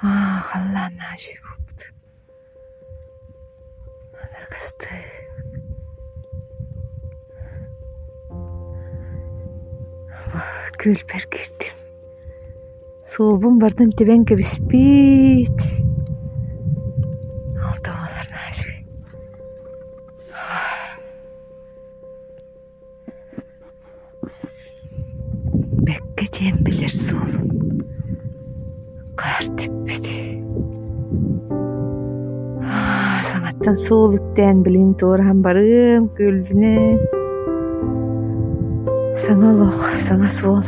халлаан наачый буолбут аларга астыы күлбэр киирдим суолбун бардан тэбэн кэбиспит ол да буоллар наачый Бэккэ диэн билэр суолун хаар тикпит саҥаттан суол үктээн билигин туораһан барыам күлдүнэ саҥа олох саҥа суол